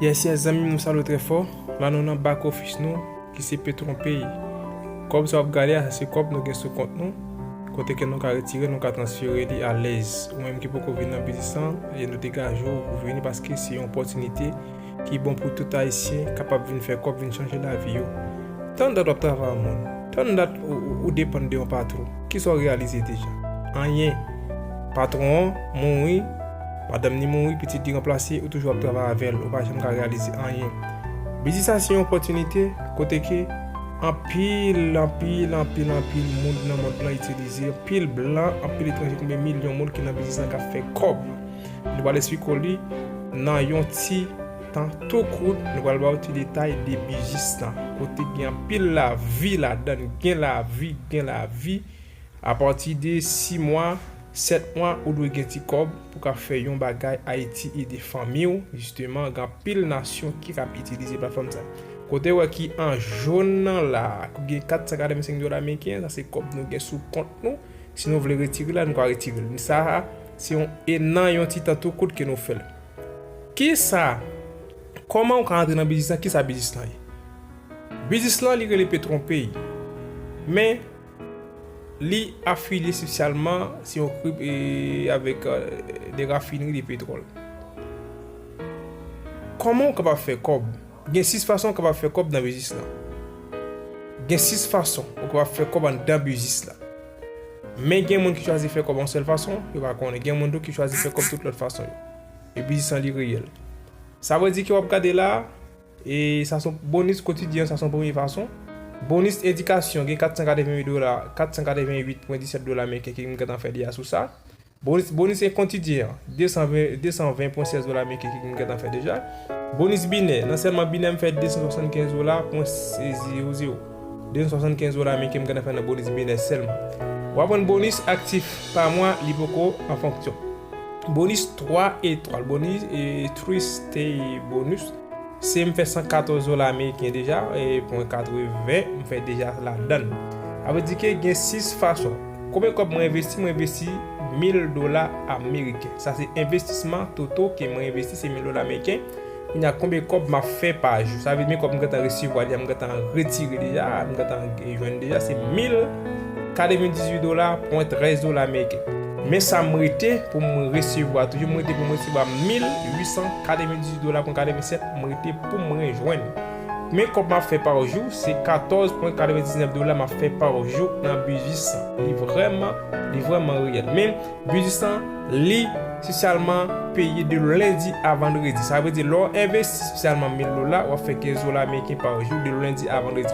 Yes yes zanmim nou salw trè fò la nou nan back office nou ki se petron pay kòb sa wap gade a sa se kòb nou gen sou kont nou kote ke nou ka retire nou ka transfere li alèz ou menm ki poko vin nan biznis lan e nou degaje w pou vini paske se yon opòtinite ki bon pou tout ayisyen kapab vin fè kòb vin chanje lavi yo. Tann dat wap travay an moun, tann dat ou depann de yon patron, kisa w reyalize deja? Anyen. Patron an mouri, madanm li mouri, pitit li ranplase, ou toujou ap travay avèl, ou pa janm ka reyalize anyen. Biznis sa se yon opòtinite kote ke anpil, anpil, anpil, anpil moun nan mond lan itilize, anpil blan, anpil etranje, konbyen milyon moun ki nan biznis lan kap fè kòb. Nou pral esplike w li nan yon ti tan tou kout. Nou pral ba w ti detay de bijis lan. Kote gen anpil lavi ladan. Gen lavi, gen lavi. A pati de 6 mwa, 7 mwa, ou dwe gen ti kòb pou ka fè yon bagay Ayiti ede fanmi w. Jisteman, gen anpil nasyon ki kab itilize platfòm sa. Kote w wè ki an jòn nan la, ki gen 485 dola meriken, sa se kòb nou gen sou kont nou. Si nou vle retire la nou ka retire l. Men sa a se yon e nan yon ti tan tou kout ke nou fè l. Ki sa, kòman ou ka antre nan biznis lan, ki sa biznis lan ye? Biznis lan li rele Petronpay. Men li afilye espesyalman se yon krip e avèk de rafinri de petwòl. Kòman ou kapab fè kòb? Gen 6 fason ou kapab fè kòb nan biznis lan. Gen 6 fason ou kapab fè kòb anndan biznis lan. Men gen moun ki chwazi fè kòb yon sèl fason, yo pa konnen. Gen moun tou ki chwazi fè kòb tout lòt fason yo. E biznis lan li reyèl. Sa vre di ke wap gade la, e sa son bonis kotidyen, sa son premye fason. Bonis edikasyon gen 488 dola, 488.17 dola meriken ke m gentan fè deja sou sa. Bonis en kontidyen an. 220 pwen 16 dola meke ki m gentan fè deja. Bonis binè. Nan sèlman binè m fè 275 dola pwen 0 0. 275 dola meke m gentan fè nan bonis binè sèlman. W ap jwenn bonis aktif pa mwa li poko an fonksyon. Bonis 3 etwal. Bonis 3 stay bonus. Se m fè 114 dola ameriken deja, e pwen 80 m fè deja ladann. Sa vle di ke gen 6 fason. Konbyen kòb mwen envesti? Mwen envesti 1000 dola ameriken. Sa se envestisman toto ke mwen envesti se 1000 dola ameriken. Kounye a konbyen kòb m ap fè pa jou? Sa vle di men kòb m gentan resevwa deja, m gentan retire deja, m gentan jwenn deja se 1000. Kale mwen 18 dola pwen 13 dola meriken. Men sa m rete pou m resevwa toujou, m rete pou m resevwa 1898 dola pwen 87, m rete pou m rejwenn. Men kòb m ap fè pa jou, se 14 pwen 99 dola m ap fè pa jou nan biznis lan. Li vrèman, li vrèman reyèl. Men, biznis lan, li spesyalman peye de lendi a vandredi. Sa vle di lè w envesti spesyalman 1000 dola, w ap fè 15 dola meriken pa jou de lendi a vandredi.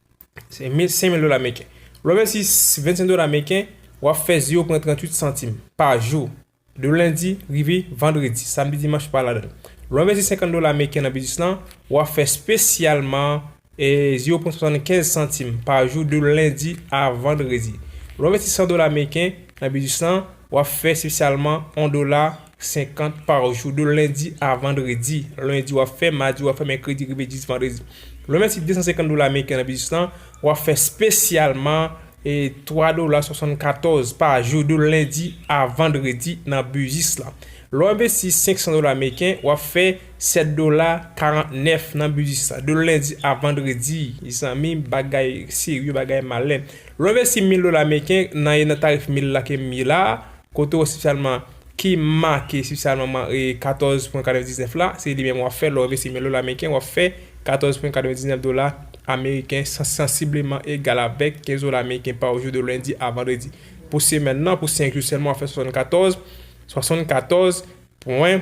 Se 1500 dola meriken. Lè w envesti 25 dola meriken, w ap fè zye w pran 38 santim pa jou, de lendi rive vandredi, samdi dimanch pa ladan l. Lè w envesti 50 dola meriken nan biznis lan, w ap fè spesyalman zye w pran 75 santim pa jou, de lendi a vandredi. Lè w envesti 100 dola meriken nan biznis lan, Wap fè se salman on dola senkant par jou de lendi a vandredi lendi wap fè madi wap fè mèkredi rive jis vandredi lwen mèsi 250 dola ameriken nan biznis lan wap fè spesyalman 3 dola 74 pa jou de lendi a vandredi nan biznis lan lè w envesti 500 dola ameriken wap fè 7 dola 49 nan biznis lan de lendi a vandredi zanmi bagay serye bagay malè Lwen vèsi mil dola meriken nan ye nan tarif mil la ke m ye la a, kote w espesyalman ki make espesyalman man e 14 pwen 99 la, se li menm w ap fè lè w envesti mil dola meriken w ap fè 14 pwen 99 dola ameriken san sansibleman egal avèk 15 dola meriken pa jou de lendi a vandredi. Pou semèn nan, pou 5 jou sèlman w ap fè 74, 74 pwen.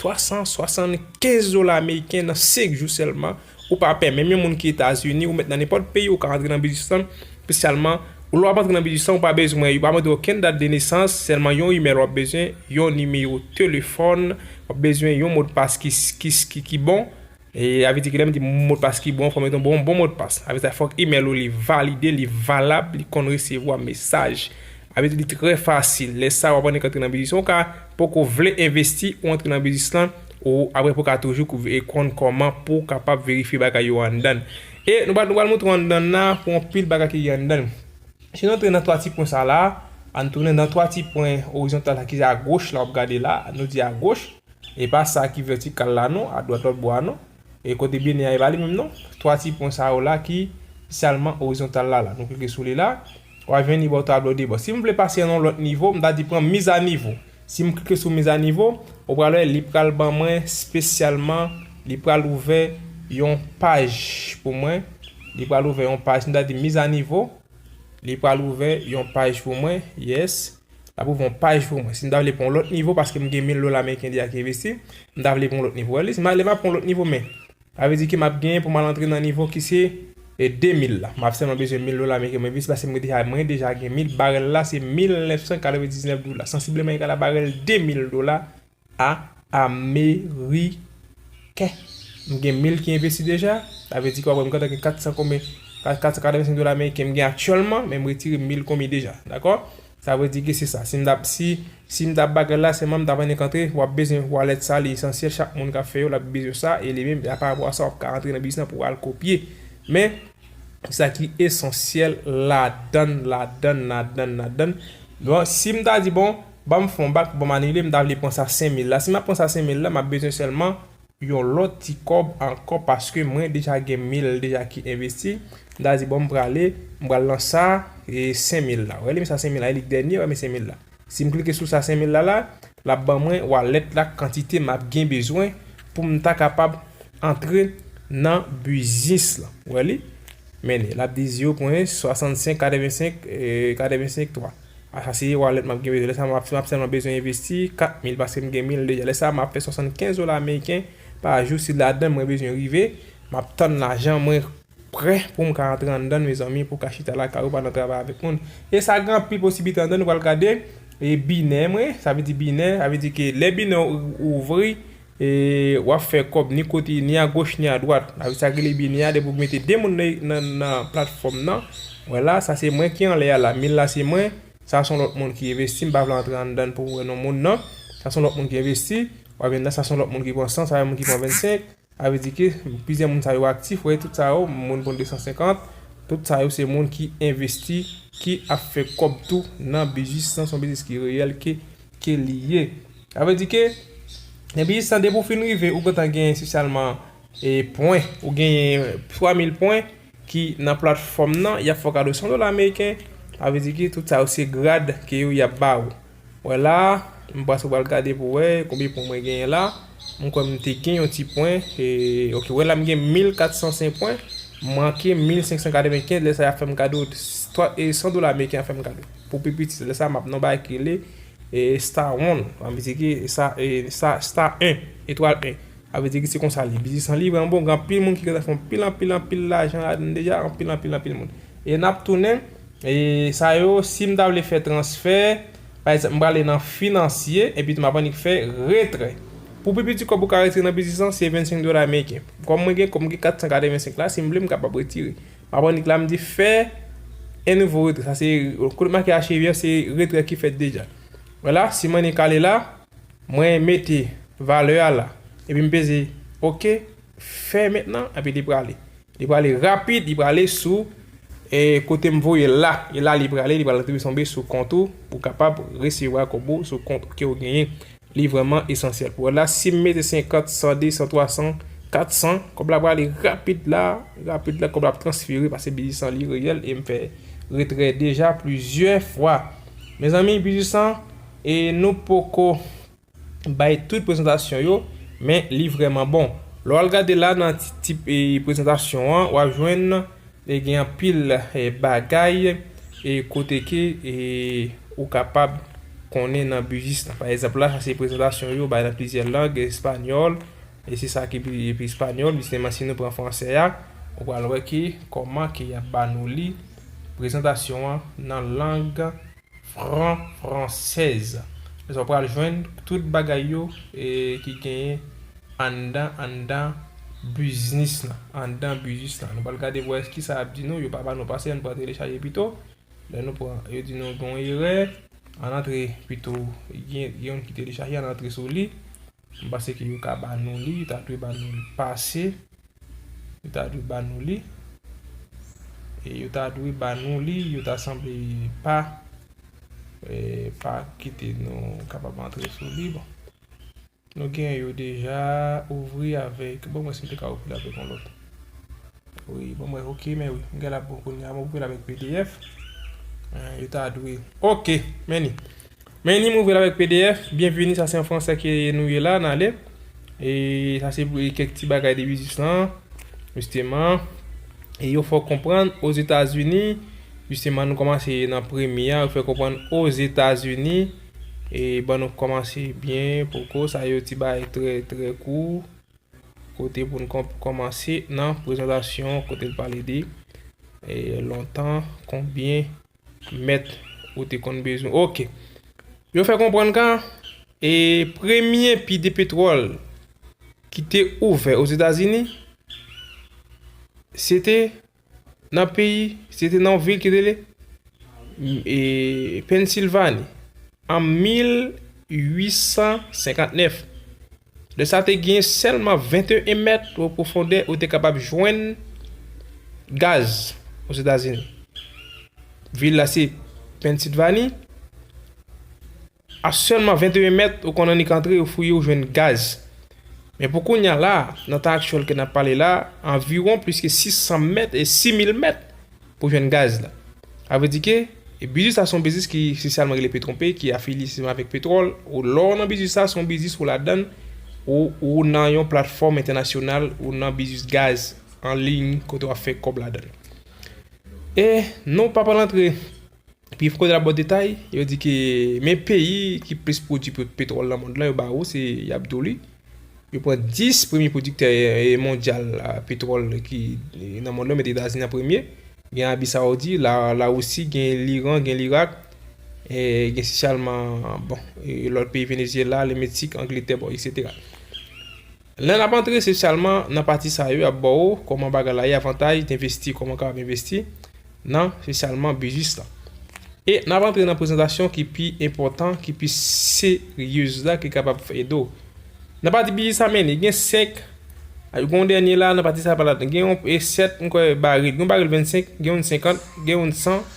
375 dola ameriken nan 5 jou sèlman, ou pa pè menm yon moun ki Etazini, ou mèt nan nenpòt peyi ou ka antre nan biznis lan, spesyalman ou lè wap antre nan biznis lan ou pa bezwen, yo pa mande okenn dat de nesans, sèlman yon imèl wap bezwen, yon nimewo telefòn, wap bezwen yon modpas ki bon. Sa vle di ke lè m di modpas ki bon, fò m gen yon bon modpas. Sa vle di fòk imèl ou li valide, li valab, li konn resevwa mesaj. Sa vle di li trè fasil. Lè sa a w ap annik antre nan biznis lan. Ou ka poko vle envesti, ou antre nan biznis lan, ou apre pou ka toujou konn kòman pou w kapab verifye bagay yo anndan. E nou pral montre w anndan l la pou yon pil bagay ki gen anndan l. Si nou antre nan 3 ti pwen sa la, ann tounen nan 3 ti pwen orizontal la ki se agoch la w ap gade la, nou di agoch. E pa sa ki vètikal la non, a dwat lòt bò a non. E kote biyene a e pa li menm non. Twa ti pwen sa yo la ki sèlman orizontal la la. Nou klike sou li la, w a jwenn li ba w tablo de bò. Si m vle pase nan yon lòt nivo, m ta di pran mise à niveau. Si m klike sou mise à niveau, ou pral wè li pral ban mwen spesyalman, li pral ouvè yon paj pou mwen. Li pral ouvè yon paj. Si m ta di mise à niveau, li pral ouvè yon paj pou mwen. Yes. L ap ouvri yon paj pou mwen. Si m ta vle pran yon lòt nivo, paske m gen mil dola ameriken deja ki envesti, m ta vle pran yon lòt nivo. Wè, lè m ap pran yon lòt nivo, men, sa vle di ke m ap genyen pou m al antre nan nivo ki se 2000 la. M ap sèlman bezwen mil dola ameriken pou m envesti, paske mwen deja, mwen deja gen mil. Barèl la se 1999 dola, sansibleman egal a barèl 2000 dola A ameriken. M gen 1000 ki envesti deja. Sa vle di ke w ap wè m gentan gen 400 konbyen 485 dola ameriken m gen aktyèlman men m retire 1000 konbyen deja. Dakò? Sa vle di ke se sa. Si m ta si si m ta bagay la sèlman m ta vin antre w ap bezwen wallet sa li esansyèl chak moun k ap fè yo l ap bezwen sa e li menm a pa rapò a sa w ap ka antre nan biznis lan pou w al kopye. Men sa ki esansyèl ladann ladann ladann ladann. Bon si m ta di bon Banm fon bak banm anile m ta vle pran sa 5000 la si map pran sa 5000 la map bezwen sèlman yon lòt ti kòb ankò paske mwen deja gen 1000 deja ki envesti m ta di bon m prale m pral nan sa 5000 la wè li menm sa 5000 la elik dènye wè men 5000 la sim klike sou sa 5000 la la lap ban mwen wallet la kantite map gen bezwen poum ta kapab antre nan biznis lan wè li men li lap di 0.65 85 85 3. Ah sa se wallet map gen bezwen lè sa si map sèlman bezwen envesti 4 mil paskem gen mil deja lè sa map fè 75 dola ameriken pa jou si ladann mwen bezwen rive map tann lajan mwen prè poum ka antre anndann mezanmi pou ka chita lakay ou pa nan travay avèk moun e sa gen anpil posiblite anndann ou pral gade e binè mwen sa vle di binè sa vle di ke lè binè ou ouvri E wap fè kòb ni kote ni a goch ni a dwat avè sa ki rele bini a depi ou mete 2 moun nan platfòm nan wè la sa se mwen ki anlè a la mil la se mwen sa son lòt moun ki envesti m pa vle antre anndan pou wè non moun nan sa son lòt moun ki envesti wap jwenn nan sa son lòt moun ki pran 100 sa yon moun ki pran 25 sa vle di ke plizyè moun sa yo aktif wè tout sa yo moun pran 250 tout sa yo se moun ki envesti ki ap fè kòb tou nan biznis lan son biznis ki reyèl ke ke li ye. Sa vle di ke depi jis nan depi ou fin rive ou gentan genyen espesyalman e pwen ou genyen 3000 pwen ki nan platfòm nan yap fè w kado 100 dola ameriken sa vle di ki tout sa yo se grad ke yo yap ba ou wè la m prèske pral gade pou wè konbyen pwen mwen genyen la m kwè m te gen yon ti pwen e ok wè la m gen 1405 pwen manke 1595 lè sa yap fè m kado 100 dola ameriken yap fè m kado. Pou pi piti lè sa map nan yon bagay ki rele star one sa vle di ki star 1 etwal 1 sa vle di ki se konsa li ye biznis lan li vrèman bon gen anpil moun ki gentan fè anpil anpil anpil lajan ladann deja anpil anpil anpil moun e nap tounen sa yo sim ta vle fè transfè pa egzanp m prale nan finansye epi tou map annik fè retrè pou pi piti kòb ou ka retire nan biznis lan se 25 dola meriken kòm mwen gen kòm mwen gen 485 la sim vle m kapab retire Map annik la mdi fè yn nouvo retrè sa se kote m make achive an se retrè ki fèt deja wè la si m annik ale la mwen mete valè a la epi m peze ok fè mentnan epi li prale li prale rapid li prale sou kote m voyel la e la li prale li pral retombe sou kont ou ou kapab resevwa kòb ou sou kont ou ke ou genyen. Li vrèman esansyèl pou wè la. Si m mete 50, 100, 200, 300, 400, kòb la prale rapid la, rapid la, kòb la ap transfere pase bijisan li reyèl e m fè retrè deja plizyè fwa. Mezanmi bijisan e nou poko bay tout prezantasyon yo men li vrèman bon. Lè w al gade la nan ti tip prezantasyon an w ap jwenn. E gen anpil bagay e kote ke e ou kapab konnen nan bujis la. Pa ezanp la, sa se prezantasyon yo bay nan plizyè lang, espanyòl, e se sa ki pi pi espanyòl. Jisteman si nou pran fransè a, ou pral wè ke kòman ke y ap ba nou li prezantasyon an nan lang. Fran fransèz. Konsa w pral jwenn tout bagay yo ki genyen anndan anndan biznis lan. Anndan biznis lan. Nou pral gade pou wè ki sa y ap di nou. Yo pa ba nou pase, ann pran telechaje pito. Lè nou pran, yo di nou gen yon erè. Ann antre pito. Gen yon ki telechaje, ann antre sou li. M panse ke yo ka ba nou li, yo ta dwe ba nou li pase, yo ta dwe ba nou li, e yo ta dwe ba nou li, yo ta sanble pa, e pa kite nou kapab antre sou li, bon. Nou gen yo deja, ouvri avèk, bon mwen si m te ka ouvri l avèk yon lòt. Wi, bon mwen ok, men wi, m gen la bon kounye a, m ouvri l avèk pdf, yo ta dwe, ok, men ni. Men li m ouvri l avèk pdf, byenvini sa se an fransè ke nou ye la, n ale. E sa se kèk ti bagay de biznis lan, jisteman. E yo fè w konprann Ozetazini, jisteman nou kòmanse nan premye a, yo fè konprann Ozetazini e ban nou kòmanse byen poko, sa yo ti bagay trè trè kou, kote pou n kòmanse nan prezantasyon kote l pale de lontan, konbyen. Mèt ou te konn bezwen. Ok. Yo fè konprann kan e premye pi de petwòl ki te ouvè o Zetazini se te nan peyi, se te nan vil ki rele e Pennsilvani an 1859. Lè sa te gen sèlman 21 mèt ou pwofondè ou te kapab jwenn gaz Ozetazini. Vil la se Pennsilvani. A sèlman 21 mèt ou konn annik antre ou fouye ou jwenn gaz. Men pou kounya la, nan tan aktyèl ke nap pale la, anviwon pliske 600 mèt e 6000 mèt. Pou jwenn gaz la. A vre di ke, biznis la se yon biznis ki sosialman rele petronpe, ki afilye sosialman avèk petwòl. Ou lè w nan biznis la, se yon biznis ou ladan l, ou ou nan yon platfòm entènasyonal, ou nan biznis gaz an liy kote w ap fè kòb ladan l. E non w pa pral antre Pi fò nan bon detay, yo di ke men peyi ki plis pwodui petwòl nan mond lan yo ba ou se y ap di w li. Yo pran 10 premye pwodiktè mondyal petwòl ki nan mond lan yo met Etazini an premye, gen Abi Sawoudi, Lawousi, gen Liran, gen Lirak, gen sichalman bon lòt peyi Venezyela, Lemetsik, Angletè bon eksetera. Lè nap antre se sèlman nan pati sa yo yap baw kòman bagay la ye avantaj d'investi kòman kapab investi nan se sèlman biznis lan e nap antre nan prezantasyon ki pi enpòtan ki pi seryez la ki kapab ede w nan pati biznis la meni gen 5 gen yon dènye la nan pati sa gen yon 7 mkwè baril gen yon baril 25 gen youn 50 gen youn 100.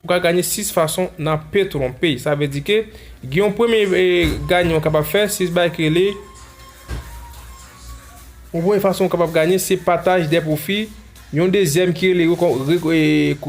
Ou ka ganye 6 fason nan pe tronpe. Sa vle di ke gen yon premye ganye ou kapab fè, 6 bagay ki rele, yon premye fason ou kapab ganye se pataj dè pwofi, yon dezyèm ki rele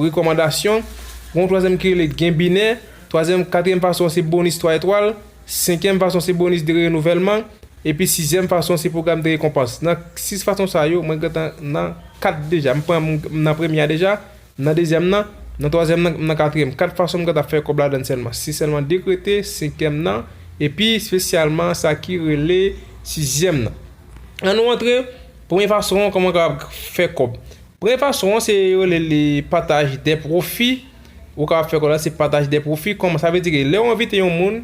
rekòmandasyon, gen yon twazyèm ki rele genbinè, twazyèm, katriyèm fason se bonis 3 etwal, senkyèm fason se bonis de renouvèlman, epi sizyèm fason se pwogram de rekonpans. Nan 6 fason sa yo, mwen gentan nan 4 deja, m nan premye a deja. M nan dezyèm nan, m nan twazyèm nan, m nan katriyèm. Kat fason m ka t ap fè kòb ladann sèlman. Se sèlman dekrete, senkyèm nan, epi spesyalman sa ki rele sizyèm nan. An nou antre, premye fason an kòman w kapab fè kòb. Premye fason an se yo rele li pataj dè pwofi. Ou kapab fè kòb la se pataj dè pwofi. Kòman sa vle di ke lè ou envite yon moun.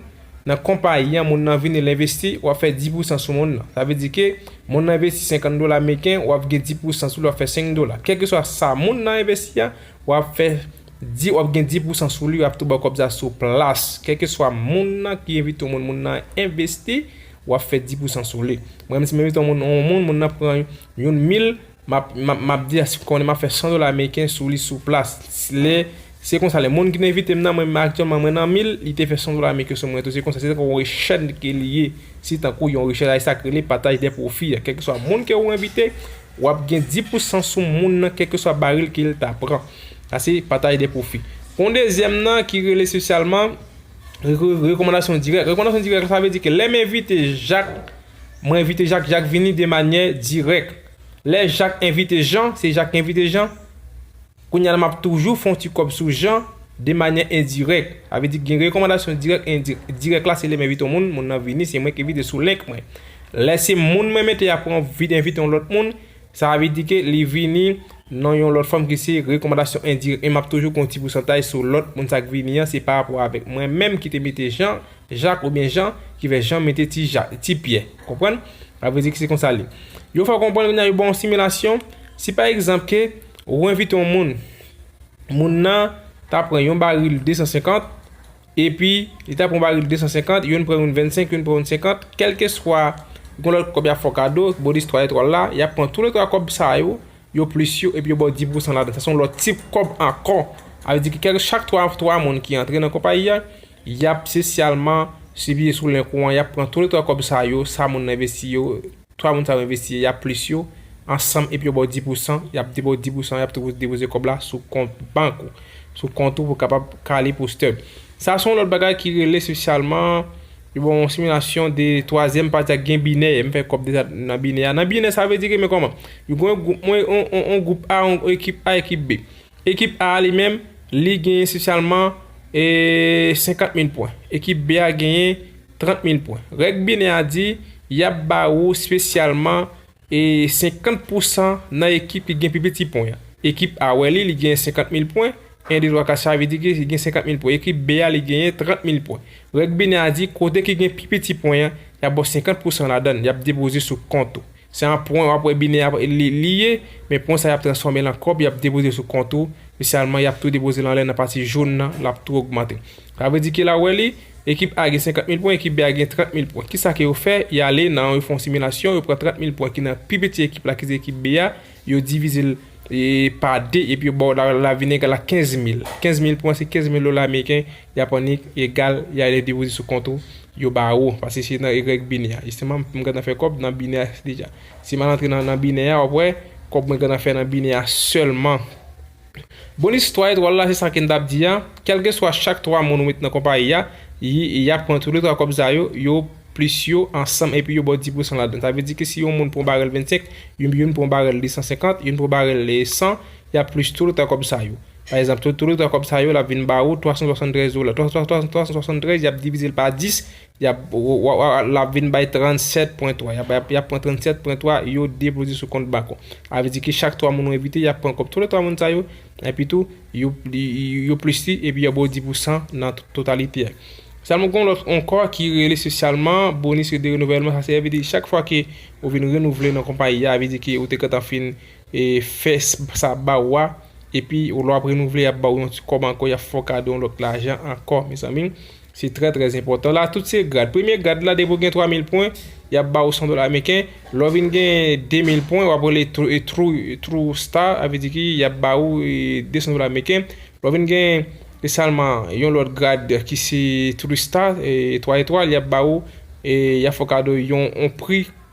Nan konpayi an moun nan vini l envesti, wap fè 10 pousan sou moun nan. Sa vle di ke moun nan envesti 50 dola meriken, wap gen 10 pousan sou li wap fè 5 dola. Kèlkeswa sa moun nan envesti a, wap fè 10 wap gen 10 pousan sou li yap tou baw kòb sa sou plas. Kèlkeswa moun nan ki envite yon moun, moun nan envesti, wap fè 10 pousan sou li. Mwen menm si m envite yon moun, moun nan pran yon mil, M ap di a si m konnen m ap fè 100 dola ameriken sou li sou plas. Lè se konsa lè moun ki te envite m nan mwen aktyèlman mwen nan mil li te fè 100 dola ameriken sou mwen tou se konsa se tankou yon rechèd ke li ye se tankou yon rechèd a e sa k rele pataj dè pwofi a kèlkeswa moun ke ou envite w ap gen 10 pou san sou moun nan kèlkeswa baril ke l ta pran sa se pataj dè pwofi gon dezyèm nan ki rele espesyalman rekomandasyon dirèk rekomandasyon dirèk sa vle di ke lè m envite jak Mwen envite Jak, Jak vini de manyè dirèk. Lè Jak envite Jan, se Jak ki envite Jan. Kounye a la m ap toujou fè yon ti kòb sou Jan de manyè endirèk. Sa vle di gen rekòmandasyon dirèk e endirèk. Dirèk la se lè m envite yon moun, moun nan vini, se mwen ki envite sou link mwen. Lè se moun mwen mete apre mwen vin envite yon lòt moun, sa vle di ke li vini nan yon lòt fòm ki se rekòmandasyon endirèk. Men m ap toujou gen yon ti pousantaj sou lòt moun sa k vini an, se parapò avèk mwen menm ki te mete Jan. Jak oubyen Jan, ki fè Jan mete ti Ja, ti Pyè. Konprann? Sa vle di ke se konsa li. Yo fè w konprann kounye a yo ba w yon similasyon, si pa egzanp ke ou envite yon moun, moun nan ta pran yon baril 250, epi li ta pran baril 250, youn pran youn 25, youn pran youn 50, kèlkeswa yon lòt kòb y ap fè w kado, Bodis 3 Etwal la, y ap pran tou le 3 kòb sa yo, yo plis yo, epi yo ba w 10 pou san ladan. Sa se yon lòt tip kòb ankò. Sa vle di ke kèlke, chak 3, 3 moun ki antre nan konpayi a, Y ap spesyalman siviye sou len kouran, y ap pran tou le twa kòb sa yo, sa moun nan envesti yo, twa moun sa yo envesti yo, y ap plis yo, ansanm epi yo ba w di pousan, y ap depoze di pousan, y ap tou depoze kòb la sou kont bank ou, sou kont ou pou kapab kale pou stub. Sa se yon lòt bagay ki rele spesyalman, yo ba w yon similasyon de twazyèm pati a gen binè, m fè kòb deja nan binè a, nan binè sa vle di ke men kòman, yo gen yon gwoup, yon gwoup A, yon ekip A, ekip B. Ekip A a li menm, li genyen espesyalman 50 mil pwen. Ekip B a genyen 30 mil pwen. Règ binè a di, y ap ba ou espesyalman 50 pou san nan ekip ki gen pi piti pwen. Ekip A wè li, li genyen 50 mil pwen, 1, 2, 3, 4, sa vle di ki li gen 50 mil pwen. Ekip B a, li genyen 30 mil pwen. Règ binè a di, kote ki gen pi piti pwen an, y ap ba w 50 pou san ladan l, y ap depoze sou kont ou. Se an pwen wap wè bine a li ye, men pwen sa yap transfòmel an kòb yap depoze sou kont ou, spesyalman yap tou depozel anlè nan pati jaune nan lap tou ogmante. Sa vle di ke la wè li, ekip A gen 50 mil pwen, ekip B a gen 30 mil pwen. Kisa ke yo fè? Yale nan yo fon similasyon, yo pran 30 mil pwen ki nan pi piti ekip la ki se ekip B a, Yo divize l pa 2 epi yo ba w lavinèg la 15 mil. 15 mil pou mwen se 15 mil dola ameriken yap annik egal y ale depoze sou kont ou yo ba ou. Pase se nan egrèg binè a. Jisteman m gentan fè kòb nan binè a deja. Si m al antre nan binè a wap wè kòb mwen gentan fè nan binè a sèlman. Bon istwa etwal la se sa ken tap di a kelkeswa chak 3 moun ou met nan konpayi a yap pran tou le 3 kòb sa yo yo plis yo ansanm epi yo baw 10 pousan ladan sa vle di ke si yon moun pran barèl 25 yon youn pran barèl 250 youn pran barèl 100 yap plis tou le 3 kòb sa yo pa egzanp tou le 3 kòb sa yo lap vin ba ou 373 dola 373 yap divizel pa 10 Yap Lap vin bay 37 pwen 3 yap bay yap pran 37 pwen 3 yo depoze sou kont bak ou a vle di ki chak 3 moun ou envite yap pran kòb tout le 3 moun sa yo epi tou yo yo plis li epi yap ba w 10 pou san nan totalite a sèlman gon lòt ankò ki rele spesyalman bonis de renouvèlman sa se vle di chak fwa ke ou vin renouvle nan konpayi a vle di ke ou te gentan fin e fè sa ba ou a epi lè wap renouvle yap ba w yon ti kòb ankò yap fè w kado yon lòt lajan ankò mezanmi. Se trè trè enpòtan. La tout se grad. Premye grad la depi ou gen 3 mil pwen, y ap ba ou 100 dola meriken. Lè w vin gen 2 mil pwen, w ap rele true star, sa vle di ki y ap ba ou 200 dola meriken. Lè w vin gen esalman yon lòt grad ki se true star, 3 etwal, y ap ba ou, y ap fè w kado yon pri.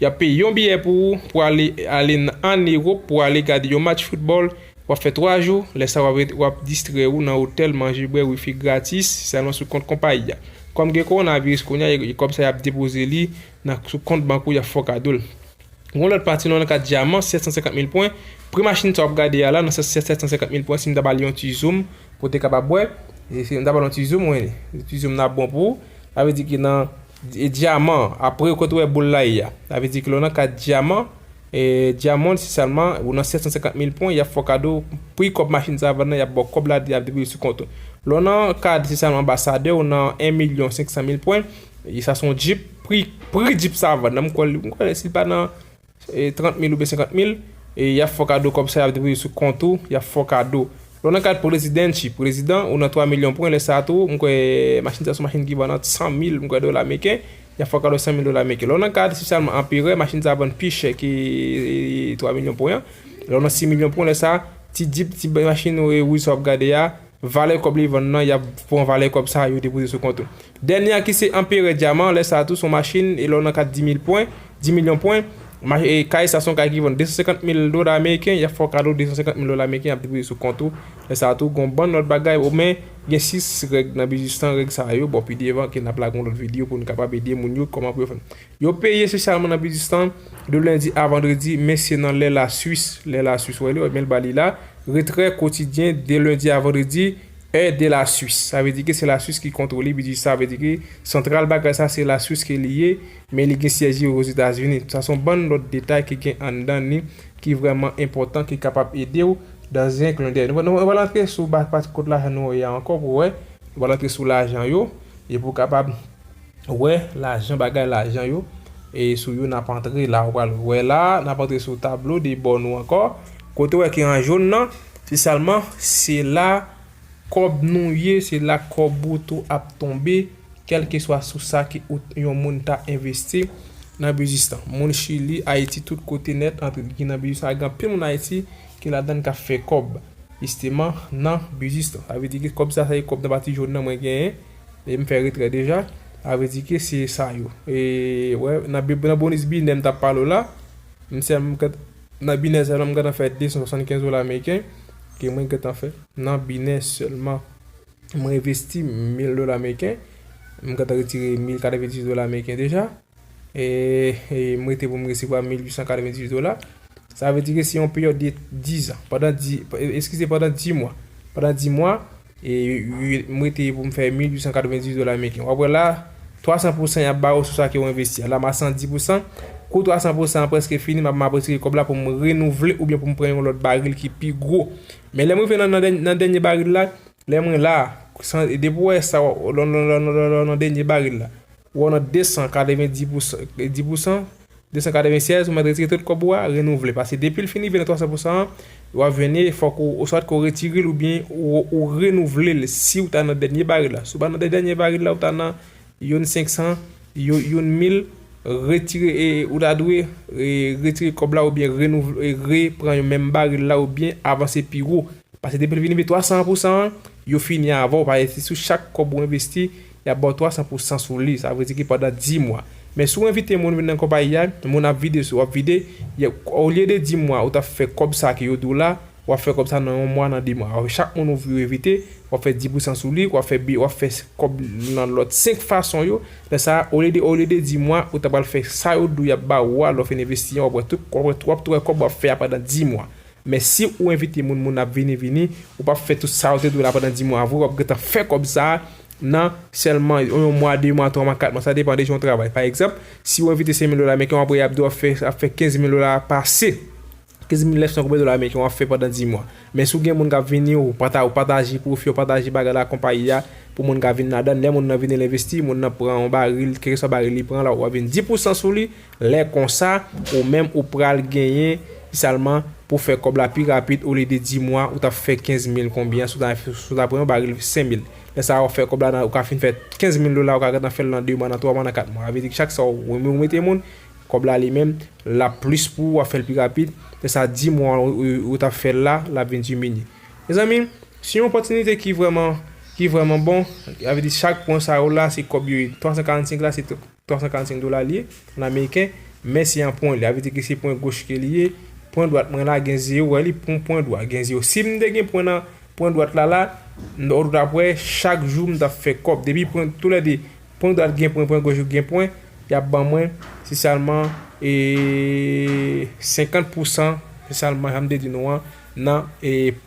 Y ap peye yon biyè pou ou pou ale ale n ann Ewop pou ale gade yon match foutbòl. W ap fè twa jou, lè sa w ap ret w ap distrè ou nan otèl, manje, bwè, wifi gratis, salon sou kont konpayi a. Kòm gen kowonaviris kounya e kòb sa y ap depoze li nan sou kont bank ou y ap fè w kado l. Gon lòt pati nan yon kat dyaman 750 mil pwen, pri machin sa w ap gade a la nan 750 mil pwen si m ta ba li yon ti zoom pou w te kapab wè, si m ta ba l yon ti zoom wi, yon ti zoom nan ap bon pou ou, sa vle di ke nan. Dyaman, apre yo kontre boul la y, sa vle di ke lè w nan kat dyaman, Diamond si sèlman ou nan 750 mil pwen y ap fè w kado pri kòb machin sa vann nan y ap ba w kòb la depi li sou kont ou. Lè w nan kad si sèlman anbasadè ou nan 1 milyon 500 mil pwen, sa se yon djip, pri djip sa vann nan m kwè l, m kwè si l pa nan 30 mil oubyen 50 mil, e yap fè w kado kòb sa yap depoze sou kont ou, yap fè w kado. Lè w nan kad prezidanchi, prezidan, ou nan 3 milyon pwen, lè sa tou, m kwè machin sa son machin ki vann ant 100 mil, m kwè dola meken, yap fè w kado 100 mil dola meken. Lè w nan kad espesyalman anperè, machin sa vann pi chè ke 3 milyon pwen an. Lè w nan 6 milyon pwen, lè sa, ti djip, ti machin wouj sa wap gade a, Valè kòb li vann nan, y ap pran valè kòb sa yo depoze sou kont ou. Dènye a ki se Anperè Dyaman, lè sa a tou s on machin e lè w nan kad 10 mil pwen, 10 milyon pwen, kay sa s on kay ki vann 250 mil dola ameriken, y ap fè w kado 250 mil dola ameriken y ap depoze sou kont ou. Lè sa a tou gen yon bann lòt bagay o men gen 6 règ nan biznis lan, règ sa yo bò pi devan ke n ap lage yon lòt videyo pou n kapab ede moun yo kòman pou yo fè. Yo peye espesyalman nan biznis lan de lendi a vandredi, men se nan lè Lasuis, lè Lasuis wè li wè men l ba li la, retrè kotidyen de lendi a vandredi, è de Lasuis. Sa vle di ke se Lasuis ki kontwole biznis sa, sa vle di ke santral bagay sa se Lasuis ke li ye, men li gen syèj li Ozetazini. Sa son bann lòt detay ki gen anndan ni ki vrèman enpòtan ki kapab ede w dans un clin d'oeil. Nou pral antre sou pati kot lajan nou wè a ankò pou wè, nou pral antre sou lajan yo e pou kapab. wè lajan bagay lajan yo e sou yo nap antre la ou pral wè la nap antre sou tablo de bò nou ankò kote ou wè ki an jaune nan se salman se la kòb nou ye se la kòb ou tou ap tonbe kelke swa sou sa ki ou yon moun ta envesti nan biznis lan moun chili ayiti tout kote nèt antre ki nan biznis la gen anpil moun ayiti ki ladann kap fè kòb jisteman nan biznis lan sa vle di ke kòb sa se kòb nan pati jaune nan mwen genyen. E m fè retrè deja. Sa vle di ke se sa yo. E wè nan bonus binè m tap pale w la, m se m gen nan binè sèlman m gentan fè 275 dola ameriken ke mwen gentan fè nan binè sèlman. Mwen envesti 1000 dola ameriken, m gentan retire 1090 dola ameriken deja. Eehh m rete pou m resevwa 1898 dola. Sa vle di ke se yon peryòd de 10 an. Pandan 10, eskize pandan 10 mwa. Pandan 10 mwa, m rete pou m fè 1898 dola ameriken. W ap wè la, 300 pousan y ap ba ou sou sa ke ou envesti a. La m a 110 pousan. Kou 300 pousan an prèske fini, m ap m ap retire kòb la pou m renouvle oubyen pou m pran yon lòt baril ki pi gwo. Men lè m rive nan dènye baril la, Lè mwen la, san, e depi w wè sa, w, lè w, lè w, lè w, lè w nan dènye baril la, ou wè w nan 290 pou, di pou san, 296, ou mèt retire tout kòb ou a, renouvle. Pase depi l fin rive nan 300 pou san an, w ap jwenn li, fòk ou, oswat ke w retire l oubyen ou renouvle l si w ta nan dènye baril la. Si w pa nan dèdènye baril la, ou ta nan. Youn 500 yo youn mil retire ou ta dwe retire kòb la oubyen renouvle re pran yon menm baril la oubyen avanse pi wo pase depi l vin rive 300 an pou san an yo fini avan w paske se sou chak kòb ou envesti y ap ba w 300 pou san sou li sa vle di ki pandan 10 mwa men si w envite moun vin nan konpayi a moun ap vide sou ap vide olye de 10 mwa ou t ap fè kòb sa ke yo di w la Wap fè kòb sa nan yon mwa nan 2 mwa ok chak moun ou vri ou evite wap fè 10 pousan sou li wap fè bi wap fè kòb nan lòt 5 fason yo lè sa olye de olye de 10 mwa ou ta pral fè sa yo diw yap ba ou a lè ou fin envesti an wap wè tout wap wè wap wè kòb wap fè a pandan 10 mwa men si ou envite moun moun ap vini vini ou pap fè tout sa yo te diw la pandan 10 mwa vre wap gentan fè kòb sa nan sèlman yon mwa 2 mwa 3 mwa 4 mwa sa depan de jan ou travay pa egzanp si ou envite 5000 dola men ken wap wè yap diw wap fè ap fè 15000 dola pase 15900 konbyen dola ameriken wap fè pandan 10 mwa men si w gen moun kap vini ou pata ou pataje pwofi ou pataje bagay la konpayi a pou moun ka vin ladann lè moun nan vini l envesti moun nan pran yon baril kèlkeswa baril li pran la wap vin 10 pousan sou li lè konsa ou menm ou pral genyen salman pou w fè kòb la pi rapid olye de 10 mwa ou tap fè 15000 konbyen si w ta pran yon baril 5000 lè sa a wap fè kòb la nan ou ka fin fè 15000 dola ou ka gentan fè l nan 2 mwa nan 3 mwa nan 4 mwa sa vle di chak sa ou mete moun Kòb la li menm lap plis pou ou wap fèl pi rapid lè sa 10 mwa ou tap fèl la lap vin dimini mezanmi se yon opòtinite ki vrèman ki vrèman bon sa vle di chak pwen sa yo la se kòb yo ye 345 la se 345 dola li ye an ameriken men se an pwen sa vle di ke se pwen goch ke li ye pwen dwat mwen la gen zewo ou wè li pou pwen dwat gen zewo si m te gen pwen nan pwen dwat la la ou tap wè chak jou m tap fè kòb depi pwen tou lè 2 Pwen dwat gen pwen pwen goch gen pwen yap ban mwen se salman ee 50 pou san se salman janm te di nou an nan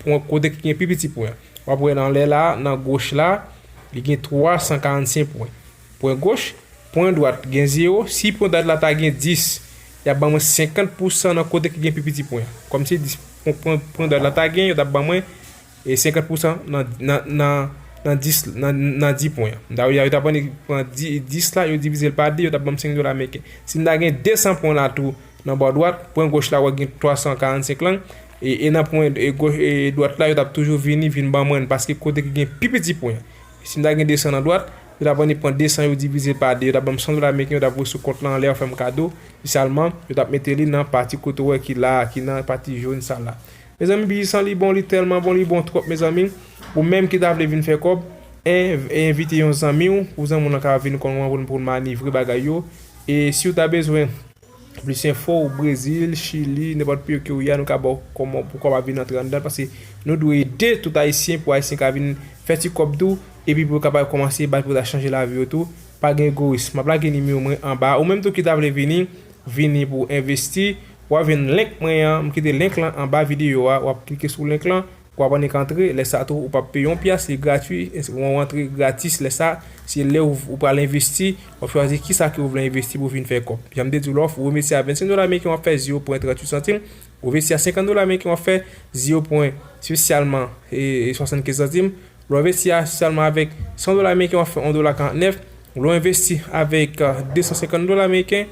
pwen kote ki gen pi piti pwen wap wè nan anlè la nan goch la li gen 345 pwen pwen goch pwen dwat gen 0 si pwen dwat la ta gen 10 yap ban mwen 50 pou san nan kote ki gen pi piti pwen kòmsi 10 pwen dwat la ta gen yo tap ban mwen E 50 pousan nan 10 nan 10 pwen an. Mta wè ya yo ta pran pran 10 la yo divizel pa 2 yo tap banm 5 dola meriken. Si mta gen 200 pwen la tou nan bò dwat, pwen goch la wè gen 345 lang e nan pwen dwat la yo tap toujou vini vin ban mwenn paske kote ki gen pi piti pwen. Si mta gen 200 nan dwat, yo ta vini pran 200 yo divizel pa 2 yo tap banm 100 dola meriken yo tap voye sou kont lan anlè yo fèm kado li salman yo tap mete li nan pati kote ou wè ki la a ki nan pati jòn sa la. Mezanmi bgy san li bon li telman bon li bon trop mezanmi ou menm ki ta vle vin fè kob env e envite yon zanmiw pou zanmiw lan ka vin konn wan poun poun manivre bagay yo e siw ta bezwen plis enfo ou brezil chili nenpot peyo kew ye a nou ka baw koman pou kob a vin antre andan paske nou dwe ede tout ayisyen pou ayisyen ka vin fè ti kob tou epi pou yo kapab komanse bay pou ta chanje lavi yo tou pa gen egoyis map lage nimewo mwen anba ou menm tou ki ta vle vini vini pou envesti Wap jwenn link mwen an, m kite link lan anba video a, wap klike sou link lan, wap annik antre, lè sa tou ou pap peye yon pyas, li gratwi, ou antre gratis lè sa, se lè ou pral envesti, wap chwazi kisa ke ou vle envesti pou vin fè kòb. Janm te diw la, ou envesti a 25 dola ameriken wap fè 0 pwen 38 santim, ou envesti a 50 dola ameriken wap fè 0 pwen spesyalman 75 santim, lè w envesti a sèlman avèk 100 dola ameriken wap fè 1 dola 49, lè w envesti avèk 250 dola ameriken,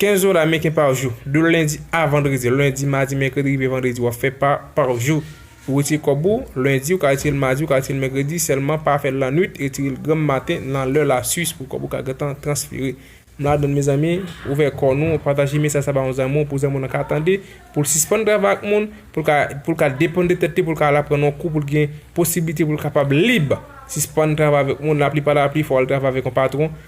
15 dola ameriken par jou. De lendi a vandredi. Lendi, madi, mèkredi rive vandredi. Wap fè pa par jou. Ou retire kòb ou, lendi, ou ka retire l madi, ou ka retire l mèkredi, sèlman pa fè l la nwit, retire l granm maten nan lè la suis pou kòb ou ka gentan transfere. M ladann mezanmi, ouvè kò nou, pataje mesaj sa ba yon zanmi w pou zanmi w nan ka tande, pou l sispann travay ak moun, pou l ka pou l ka depann de tèt li, pou l ka al aprann yon kou pou l gen posiblite pou l kapab lib, sispann travay avèk moun, laplipalapli fò w al travay avèk yon patwon,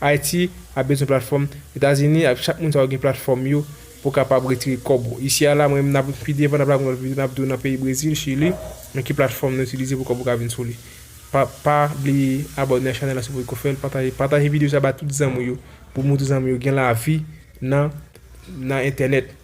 Ayiti ap bezwen platfòm etazini ak chak moun sa yo gen platfòm yo pou kapab retire kòb ou isi a la mwen menm nap pi devan nap la gen lòt video nap di w nan peyi brezil chili men ki platfòm nan itilize pou kòb ou ka vin sou li pa pa bliye abòne a chanèl la si w poko fèl pataje pataje video sa ba tout zanmi w yo pou moutre zanmi w yo gen lavi nan nan entènèt.